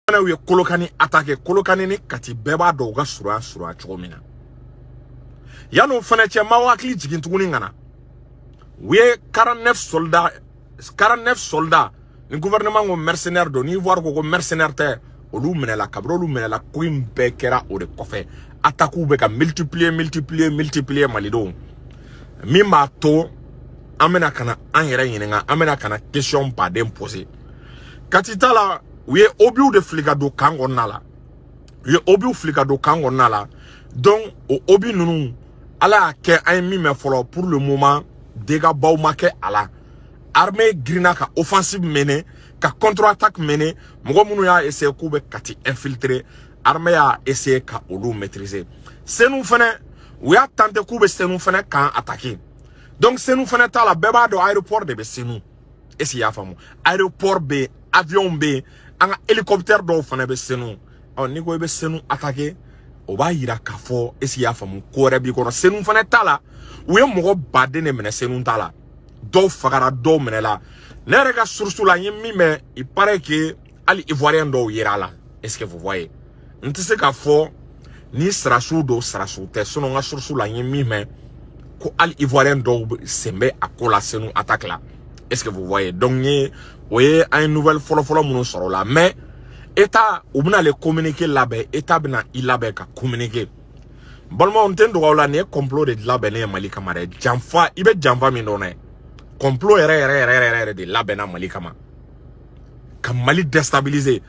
Fanaw ye kolokani atake kolokani ni kati bɛɛ b'a dɔn u ka surunya surunya cogo min na yanni o fana cɛ n b'aw hakili jigin tuguni ka na u ye 49 soldat ni gouvernement ko mercenaire don ni ivoire ko ko mercenaire tɛ olu minɛla kabiri olu minɛla ko in bɛɛ kɛra o de kɔfɛ atakiw bɛ ka multiplier multiplier multiplier malidenw min b'a to an bɛna ka na an yɛrɛ ɲininka an bɛna ka na question baden poser kati ta la u ye obiw de fili ka don kan kɔnɔna la u ye obiw fili ka don kan kɔnɔna la donc o obi ninnu ala y'a kɛ an ye min mɛn fɔlɔ pour le moment dégât baw ma kɛ a la armée girinna ka offensive mener ka contre attaque mener mɔgɔ minnu y'a essayer k'u bɛ kati infiltrer armée y'a essayer ka olu maîtriser senu fana u y'a tenter k'u bɛ senu fana kan attaquer donc senu fana ta la bɛɛ b'a dɔn aéroport de bɛ senu est ce que i y'a faamu aéroport bɛ yen avion bɛ yen an ka hélicoptère dɔw fana bɛ senu ɔ n'i ko i bɛ senu attaquer o b'a yira k'a fɔ est ce que i y'a faamu ko wɛrɛ b'i kɔnɔ senu fana ta la u ye mɔgɔ baden de minɛ senu ta la dɔw fagara dɔw minɛla ne yɛrɛ ka source la n ye min mɛn il paraît que hali ivoirien dɔw yera a la est ce que vous voyez n tɛ se k'a fɔ ni sarasiw don sarasiw tɛ sinɔn n ka source la n ye min mɛn ko hali ivoirien dɔw sen bɛ a ko la senu attaque la est ce que vous voyez donc n ye o ye an ye nouvelle fɔlɔfɔlɔ minnu sɔrɔ o la mais état u bɛna le communiqué labɛn état bɛna i labɛn ka communiquer balimaw n tɛ n dogo aw la nin ye complot de labɛnnen ye mali kama dɛ janfa i bɛ janfa min dɔn dɛ complot yɛrɛ yɛrɛ yɛrɛ yɛrɛ de labɛnna mali kama ka mali destabiliser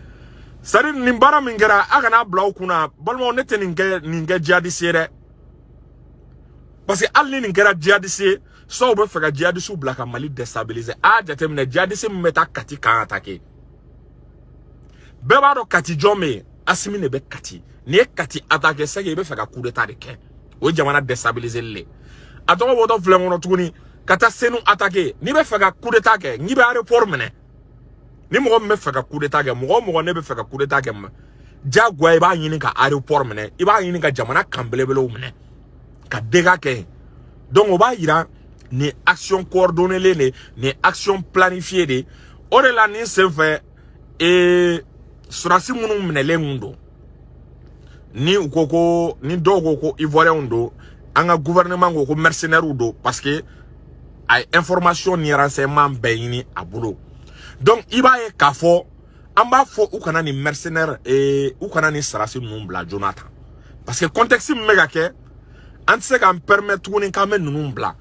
c'est à dire nin baara min kɛra a kana bila aw kunna balimaw ne tɛ nin kɛ jihadisi ye dɛ parce que hali ni nin kɛra jihadisi ye c'est u bɛ fɛ ka jihadisiw bila ka mali destabiliser a y'a jateminɛ jihadisi min bɛ taa kati kan atake bɛɛ b'a dɔn kati jɔn bɛ yen asimi de bɛ kati n'i ye kati atake c'est que i bɛ fɛ ka kudeta de kɛ o ye jamana destabiliser le a tɔgɔ bɔtɔ filɛ kɔnɔ tuguni ka taa senu attaquer n'i bɛ fɛ ka coup d'état kɛ n'i bɛ aéroport minɛ ni mɔgɔ min bɛ fɛ ka coup d'état kɛ mɔgɔ mɔgɔ min bɛ fɛ ka coup d'état kɛ jagoya i b'a ɲini ka aéroport minɛ i b'a ɲini ka jamana kan belebelew minɛ ka dégât kɛ yen donc o b'a yira nin action coordonnée de nin action planifiée de o de la nin senfɛ ee sarasi minnu minɛlen kun don ni u ko ko ni dɔw ko ko ivoiriyɛnw don an ka gouvernement ko ko mercenaires don parce que a ye information ni renseignement bɛɛ ɲini a bolo donc i b'a ye k'a fɔ an b'a fɔ u kana nin mercenaire ee u kana nin sarasi ninnu bila joona tan parce que contexte min bɛ ka kɛ an tɛ se k'an permettre tuguni k'an bɛ ninnu bila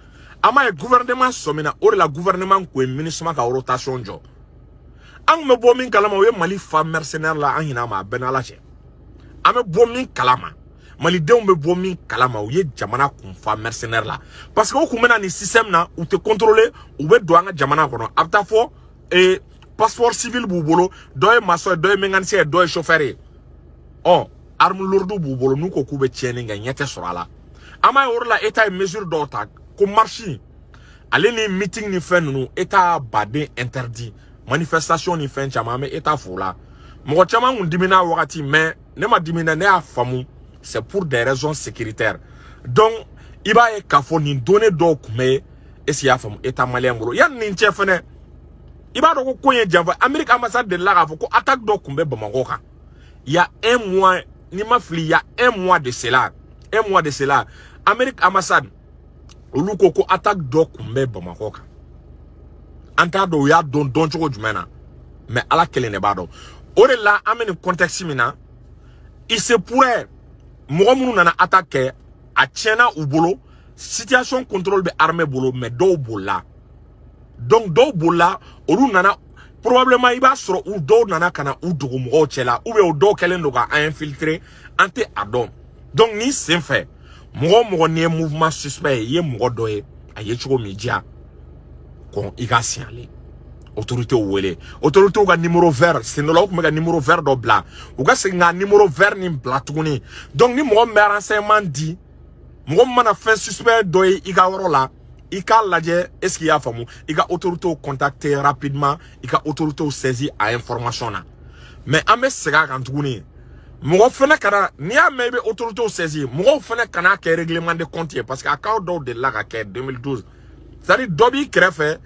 an b'a ye gouvernement sɔmina o de la gouvernement kun ye minusima ka rotation jɔ an kun bɛ bɔ min kalama u ye mali fa mercenaire la an ɲin'a ma a b'i n'ala cɛ an bɛ bɔ min kalama malidenw bɛ bɔ min kalama u ye jamana kun fa mercenaire la parce que u kun bɛ na nin système na u tɛ contrôler u bɛ don an ka jamana kɔnɔ a bɛ taa fɔ ee passeport civil b'u bolo dɔ ye maçon ye dɔ ye mécanicien ye dɔ ye chauffeur ye ɔ arme lourde b'u bolo n'u ko k'u bɛ tiɲɛni kɛ ɲɛ tɛ sɔrɔ a la an b'a ye o de la état ye mesure dɔw ta ko marche ale ni meeting ni fɛn ninnu état b'a de interdit manifestation ni fɛn caman an bɛ état fo o la mɔgɔ caman kun dimina wagati mais ne ma dimina ne y'a faamu c'est pour des raisons sécuritaires donc i b'a ye k'a fɔ nin données dɔw tun bɛ yen est-ce que y'a faamu état malien bolo yanni nin cɛ fɛnɛ i b'a dɔn ko ko in ye janfa amerique ambassade delila k'a fɔ ko attaque dɔ tun bɛ bamakɔ kan il y a un mois n'i ma fili il y a un mois de cela un mois de cela amerique ambassade olu ko ko attaque dɔ kun bɛ bamakɔ kan an t'a dɔn u y'a dɔn dɔn cogo jumɛn na mais ala kelen de b'a dɔn o de la an bɛ nin contexte min na il se pourrait mɔgɔ minnu nana attaque kɛ a tiɲɛna u bolo situation contrôle bɛ armée bolo mais dɔw bolila donc dɔw bolila olu nana probablement i b'a sɔrɔ u dɔw nana ka na u dogo mɔgɔw cɛ la ou bien u dɔw kɛlen don ka an infiltrer an tɛ a dɔn donc nin sen fɛ mɔgɔ o mɔgɔ n'i ye mouvement suspect ye i ye mɔgɔ dɔ ye a ye cogo ma diya kɔni i ka signaler autorités wele autorités ka numéro vert sen dɔ la u kun bɛ ka numéro vert dɔ bila u ka segin ka numéro vert nin bila tuguni donc ni mɔgɔ min bɛ renseignement di mɔgɔ min mana fɛn suspect dɔ ye i ka yɔrɔ la i k'a lajɛ est ce que i y'a faamu i ka autorités contacter rapidement i ka autorités saisir a information na mais an bɛ segin a kan tuguni mɔgɔ fɛnɛ kana n'i y'a mɛn i bɛ autorités saisir mɔgɔw fɛnɛ kana kɛ règlement de compte ye parce que a cas dɔw delila ka kɛ 2012 c'est à dire dɔ b'i kɛrɛfɛ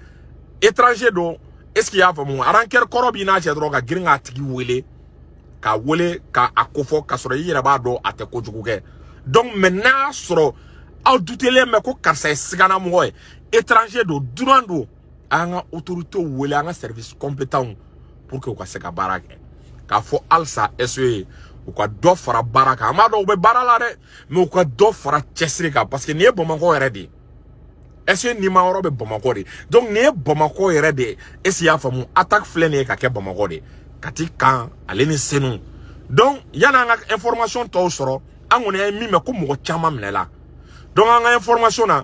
étranger don est ce que i y'a faamu rancœur kɔrɔ b'i n'a cɛ dɔrɔn ka girin k'a tigi wele k'a wele ka a kofɔ k'a sɔrɔ i yɛrɛ b'a dɔn a tɛ kojugu kɛ donc mais n'a sɔrɔ aw dutelen bɛ ko karisa ye siganamɔgɔ ye étranger don dunan don an ka autorités wele an ka services compétents pour que u ka se ka baara kɛ k'a fɔ halisa SE u ka dɔ fara baara kan an b'a dɔn u bɛ baara la dɛ mais u ka dɔ fara cɛsiri kan parce que nin ye bamakɔ yɛrɛ de ye ɛse nima yɔrɔ bɛ bamakɔ de donc nin ye bamakɔ yɛrɛ de ye est-ce i y'a faamu attaque filɛ nin ye ka kɛ bamakɔ de kati kan ale ni senu donc yan'an ka information tɔw sɔrɔ an kɔni ye min mɛn ko mɔgɔ caman minɛla donc an ka information na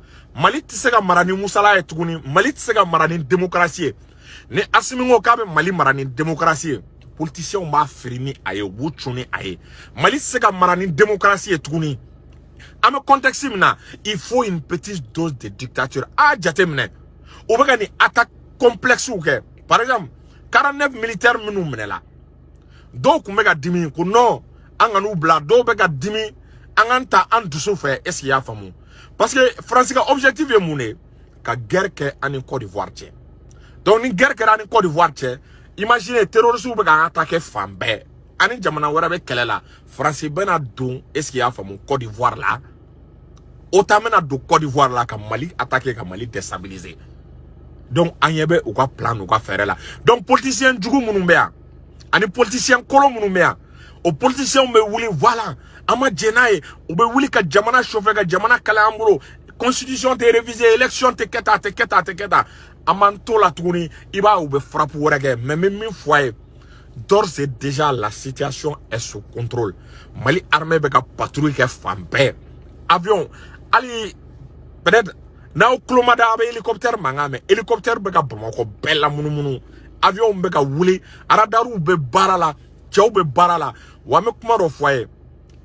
mali tɛ se ka mara ni musala ye tuguni mali tɛ se ka mara ni demokarasi ye ni asimi ko k'a bɛ mali mara ni demokarasi ye politisiɲɛw b'a firi ni a ye u b'u cun ni a ye mali tɛ se ka mara ni demokarasi ye tuguni an bɛ contexte min na il faut une petite dose de dictature a jateminɛ u bɛ ka nin attaque complexew kɛ par exemple 49 militaire minnu minɛla dɔw tun bɛ ka dimi ko non an kan'u bila dɔw bɛ ka dimi an kana ta an dusu fɛ est ce que i y'a faamu parce que France ka objectif ye mun de ye ka guerre kɛ an ni Côte d'Ivoire cɛ donc ni guerre kɛra an ni Côte d'Ivoire cɛ imagine terroristes bɛ k'an attaquer fan bɛɛ an ni jamana wɛrɛ bɛ kɛlɛ la France bɛna don est ce que y'a faamu Côte d'Ivoire la OTAN bɛna don Côte d'Ivoire la ka Mali attaquer ka Mali déstabiliser donc an ɲɛ bɛ u ka plan n'u ka fɛɛrɛ la donc politicien jugu minnu bɛ yan ani politicien kolon minnu bɛ yan o politisiɲɛw bɛ wuli voilà an ma jɛn n'a ye u bɛ wuli ka jamana chauffer ka jamana kalaya an bolo constitution tɛ réviser élection tɛ kɛ tan a tɛ kɛ tan a tɛ kɛ tan an b'an t'o la tuguni i b'a u bɛ frappe wɛrɛ kɛ mais n bɛ min fɔ a ye d'ores et déjà la situation est sous contrôle mali armée bɛ ka patrouille kɛ fan bɛɛ avion hali peut-être n'aw tulo ma da a bɛ hélicoptère mankan mɛn hélicoptère bɛ ka bamakɔ bɛɛ lamunumunu avion bɛ ka wuli aradariw bɛ baara la cɛw bɛ baara la wa an bɛ kuma dɔ fɔ a ye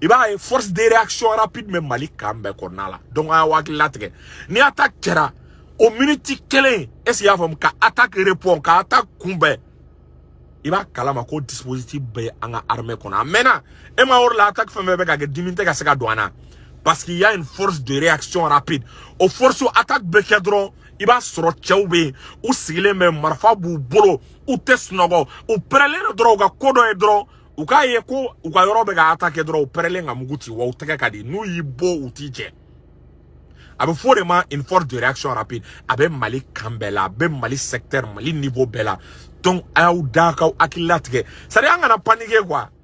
i b'a ye force de réaction rapide bɛ mali camp bɛɛ kɔnɔna la donc a y'aw hakili latigɛ ni attaque kɛra o miniti kelen est ce que i y'a faamu ka attaque répond ka attaque kunbɛn i b'a kalama ko dispositif bɛ an ka armée kɔnɔ a mɛnna e ma yɔrɔ la attaque fɛn fɛn bɛ ka kɛ dimi tɛ ka se ka don an na parce qu'il y a une force de réaction rapide o force attaque bɛ kɛ dɔrɔn i b'a sɔrɔ cɛw bɛ yen u sigilen bɛ marifa b'u bolo u tɛ sunɔgɔ u pɛrɛlen don dɔrɔn u ka ko dɔ ye dɔrɔn u k'a ye ko u ka yɔrɔ bɛ ka attaquer dɔrɔn u pɛrɛlen ka mugu ti wa u tɛgɛ ka di n'u y'i bon u t'i jɛ a bɛ fɔ o de ma une force de réaction rapide a bɛ mali camp bɛɛ la a bɛ mali secteur mali niveau bɛɛ la donc a y'aw da k'aw hakili latigɛ c'est à dire an kana paniquer quoi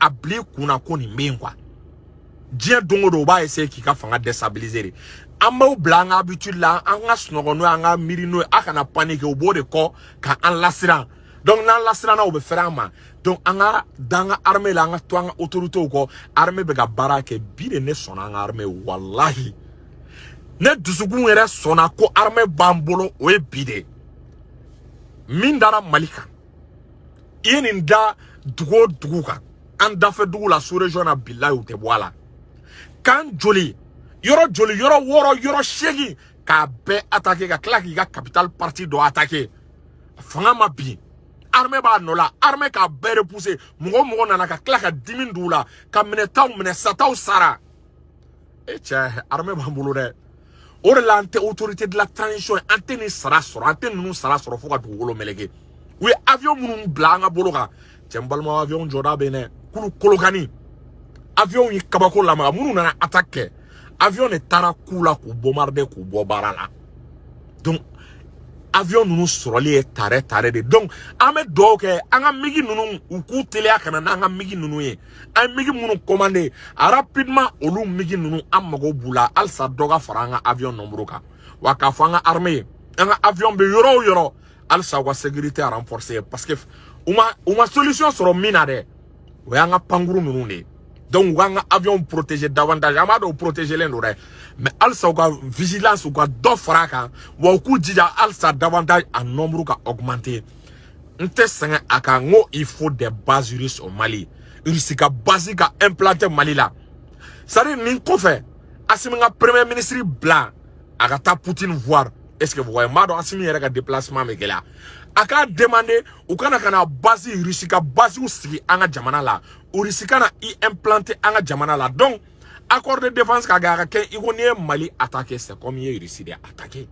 a bila i kun na ko nin bɛ yen quoi diɲɛ don o don o b'a essayer k'i ka fanga déstabiliser de an b'a bila an ka habitude la an ka sunɔgɔ n'o ye an ka miiri n'o ye a kana paniquer o b'o de kɔ ka an lasiran donc n'an lasiranna o bɛ fɛrɛ an ma donc an ka da an ka armée la an ka to an ka autorités kɔ armée bɛ ka baara kɛ bi de ne sɔnna an ka armée walahi ne dusukun yɛrɛ sɔnna ko armée b'an bolo o ye bi de ye min dara mali kan i ye nin da dugu o dugu kan an dafɛ dugu la sous-région na bilayi u tɛ bɔ a la camp joli yɔrɔ joli yɔrɔ wɔɔrɔ yɔrɔ seegin k'a bɛɛ attaquer ka tila k'i ka capital partie dɔ attaquer fanga ma bin armée b'a nɔ la armée k'a bɛɛ repousser mɔgɔ o mɔgɔ nana ka tila ka dimi don u la ka minɛtaw minɛ sataw sara e cɛ armée b'an bolo dɛ o de la an tɛ autorité de la transition an tɛ nin sara sɔrɔ an tɛ ninnu sara sɔrɔ fo ka dugukolo meleke u ye avion minnu bila an ka bolo kan cɛ n balima avion jɔda bɛ yen dɛ kulu kolokani avion ye kabako lamaga minnu nana attaque kɛ avion de taara k'u la k'u bombarder k'u bɔ baara la donc avion ninnu sɔrɔli ye tare tare de donc an bɛ dugawu kɛ an ka migi ninnu u k'u teliya ka na n'an ka migi ninnu ye an ye migi minnu commandé rapidement olu migi ninnu an mago b'u la halisa dɔ ka fara an ka avion nombre kan wa k'a fɔ an ka armée ye an ka avion bɛ yɔrɔ o yɔrɔ halisa u ka sécurité renforcer parce que u ma u ma solution sɔrɔ min na dɛ o y'an ka pankuru ninnu de ye donc u k'an ka avion protéger davantage an b'a dɔn u protégelen don dɛ mais halisa u ka vigilance u ka dɔ fara a kan wa u k'u jija halisa davantage a nombre ka augmenter n tɛ sɛgɛn a kan n ko il faut des bases russes au Mali Russie ka base ka implanter Mali la c'est à dire nin kɔfɛ Assimi ka premier ministre bila a ka taa Poutine voir est ce que vous voyez n b'a dɔn Assimi yɛrɛ ka déplacement bɛ gɛlɛya a k'a demander u ka na ka na base Russie ka basew sigi an ka jamana la Russie ka na i implanter an ka jamana la donc accord de défense ka ga ka kɛ i ko n'i ye mali attaquer c'est comme i ye russie de attaquer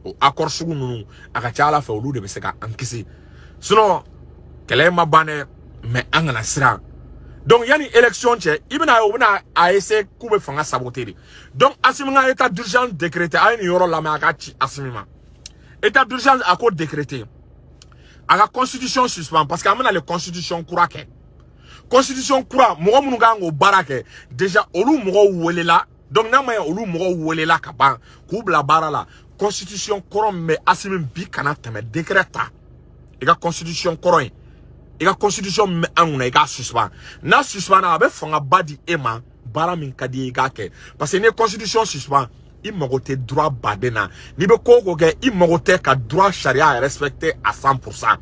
o accord sugu ninnu a ka ca ala fɛ olu de bɛ se ka an kisi sinon kɛlɛ ma ban dɛ mais an kana siran donc yanni élection cɛ i bɛna a ye u bɛna a essayer k'u bɛ fanga saboter de donc asimi ka état d'urgence décréter a ye nin yɔrɔ lamɛn a ka ci asimi ma état d'urgence a k'o décréter a ka constitution suspend parce que an bɛna le constitution kura kɛ constitution kura mɔgɔ minnu ka kan k'o baara kɛ déjà olu mɔgɔw welela donc n'a ma ɲɛ olu mɔgɔw welela ka ban k'u bila baara la constitution kɔrɔ min bɛ asimi bi kana tɛmɛ décret ta i ka constitution kɔrɔ in i ka constitution min bɛ an kunna i k'a suspend n'a suspendra a bɛ fangaba di e ma baara min ka di i ye i k'a kɛ parce que n'i ye constitution suspend i mago tɛ droit baden na n'i bɛ ko o ko kɛ i mago tɛ ka droit sariya respecter à 100 pour cent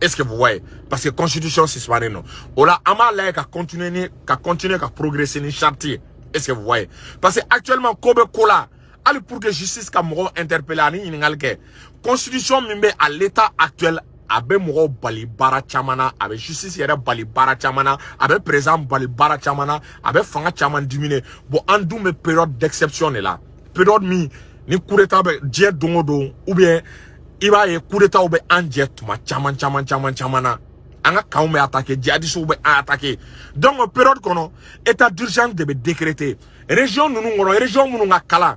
est ce que vous voyez parce que constitution suspendlen don o la an b'a lajɛ ka continuer ni ka continuer ka progresser ni charte ye est ce que vous voyez parce que actuellement ko bɛ ko la hali pour que justice ka mɔgɔw interpeller ani ɲininkali kɛ constitution min bɛ à l'état actuel a bɛ mɔgɔw bali baara caman na a bɛ justice yɛrɛ bali baara caman na a bɛ président bali baara caman na a bɛ fanga caman diminuer bon an dun bɛ période d'exception de la période min ni coup d'état bɛ jɛ don o don ou bien i b'a ye coup d'étatw bɛ an jɛ tuma caman caman caman caman na an ka campw bɛ attaquer djihadistes bɛ an attaquer donc o période kɔnɔ état d'urgence de bɛ décréter région ninnu kɔnɔ région minnu ka kalan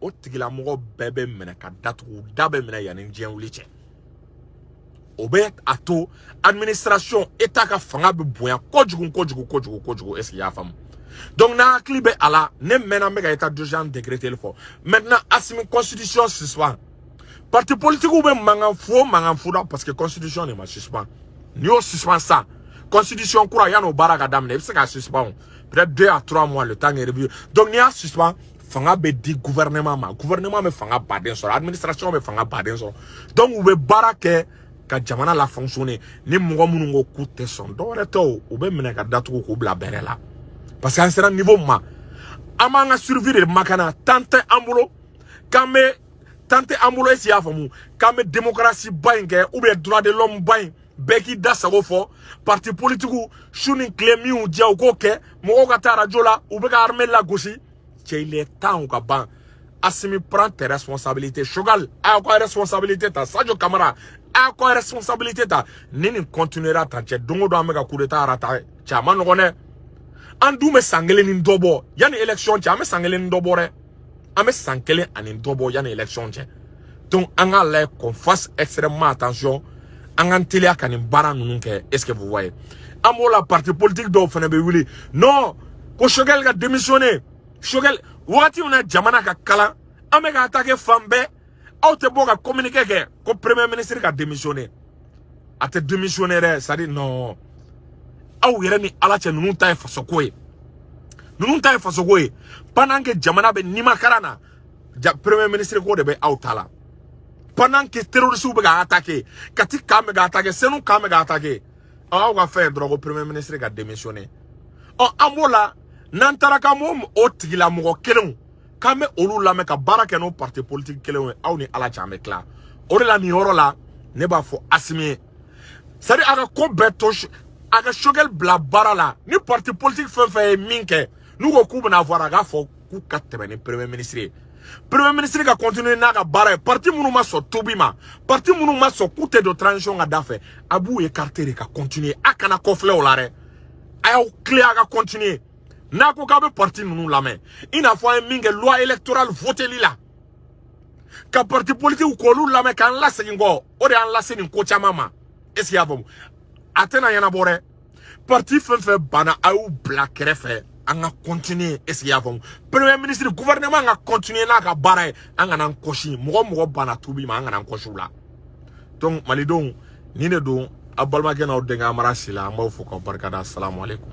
o tigilamɔgɔ bɛɛ bɛ minɛ ka datugu da bɛ minɛ yanni diɲɛ wuli cɛ o bɛ a to administration état ka fanga bɛ bonya kojugu kojugu kojugu kojugu est ce que y'a faamu donc n'a hakili bɛ a la ne mɛnna n bɛ ka état d'urgence décréter fɔ maintenant Assimi constitution suspend parti politique bɛ mankan fu mankan fu la parce que constitution de ma suspend n'i y'o suspend sisan constitution kura yann'o baara ka daminɛ i bɛ se k'a suspend peut-être deux à trois mois le temps de revue donc n'i y'a suspend fanga bɛ di gouvernement ma gouvernement bɛ fanga ba de sɔrɔ administration bɛ fanga ba de sɔrɔ donc u bɛ baara kɛ ka jamana la fonctionner ni mɔgɔ minnu ko k'u tɛ sɔn dɔwɛrɛ tɛ o u bɛ minɛ ka datugu k'u bila bɛrɛ la parce que an sera niveau min ma an b'an ka survie de makana temps tɛ an bolo k'an bɛ temps tɛ an bolo est ce que y'a faamu k'an bɛ démocratie ba in kɛ ou bien droit de l'homme ba in bɛɛ k'i da sago fɔ parti politikiw su ni tile min u diya u k'o kɛ mɔgɔw ka taa arajo la u bɛ ka armée lagosi cɛ il est temps o ka ban Assimi prend tes responsabilités Choguel a k'aw ka responsabilité ta Sadio Camara a k'aw ka responsabilité ta ni nin continuera tan cɛ don o don an bɛ ka coup d'état rata cɛ a man nɔgɔn dɛ an dun bɛ san kelen ni dɔ bɔ yanni élection cɛ an bɛ san kelen ni dɔ bɔ dɛ an bɛ san kelen ani dɔ bɔ yanni élection cɛ donc an k'a lajɛ qu'on fasse extrêmement attention an k'an teliya ka nin baara ninnu kɛ est ce que vous voyez an b'o la parti politique dɔw fana bɛ wuli non ko Choguel ka démissionner Choguel wagati min na jamana ka kalan an bɛ ka attaquer fan bɛɛ aw tɛ bɔ ka communiqué kɛ ko premier ministre ka démissionner a tɛ démissionner dɛ c'est à dire non aw yɛrɛ ni ala cɛ ninnu ta ye fasoko ye ninnu ta ye fasoko ye pendant que jamana bɛ nimakaran na ja premier ministre ko de bɛ aw ta la pendant que terroristes bɛ ka attaquer Kati camp bɛ ka attaquer Senu camp bɛ ka attaquer aw ka fɛn ye dɔrɔn ko premier ministre ka démissionner ɔ an b'o la n'an taara k'an b'o o tigilamɔgɔ kelenw k'an bɛ olu lamɛn ka baara kɛ n'o parti politique kelenw ye aw ni ala cɛ an bɛ tila o de la nin yɔrɔ la ne b'a fɔ Assimi ye c'est à dire a ka ko bɛɛ to a ka Choguel bila baara la ni parti politique fɛn fɛn ye min kɛ n'u ko k'u bɛna avoir a k'a fɔ k'u ka tɛmɛ ni premier ministre ye premier ministre ka continuer n'a ka baara ye parti minnu ma sɔn tuubi ma parti minnu ma sɔn k'u tɛ don transition ka da fɛ a b'u écarter de ka continuer a kana kɔfilɛ o la dɛ a y'aw tilen a ka continuer n'a ko k'a bɛ parti ninnu lamɛn i n'a fɔ an ye min kɛ loi électorale voteli la ka parti politikiw k'olu lamɛn k'an lasegin kɔ o de y'an lase nin ko caman ma est ce que y'a faamu a tɛna ɲɛnabɔ dɛ parti fɛn fɛn banna a y'u bila kɛrɛfɛ an ka continuer est ce que y'a faamu premier ministre gouvernement ka continuer n'a ka baara ye an kana an kɔsi mɔgɔ mɔgɔ banna tuubi ma an kana an kɔsi u la donc malidenw ni ne don a balimakɛ n'aw denkɛ Amara Sila an b'aw fo k'aw barikada asalamualeykum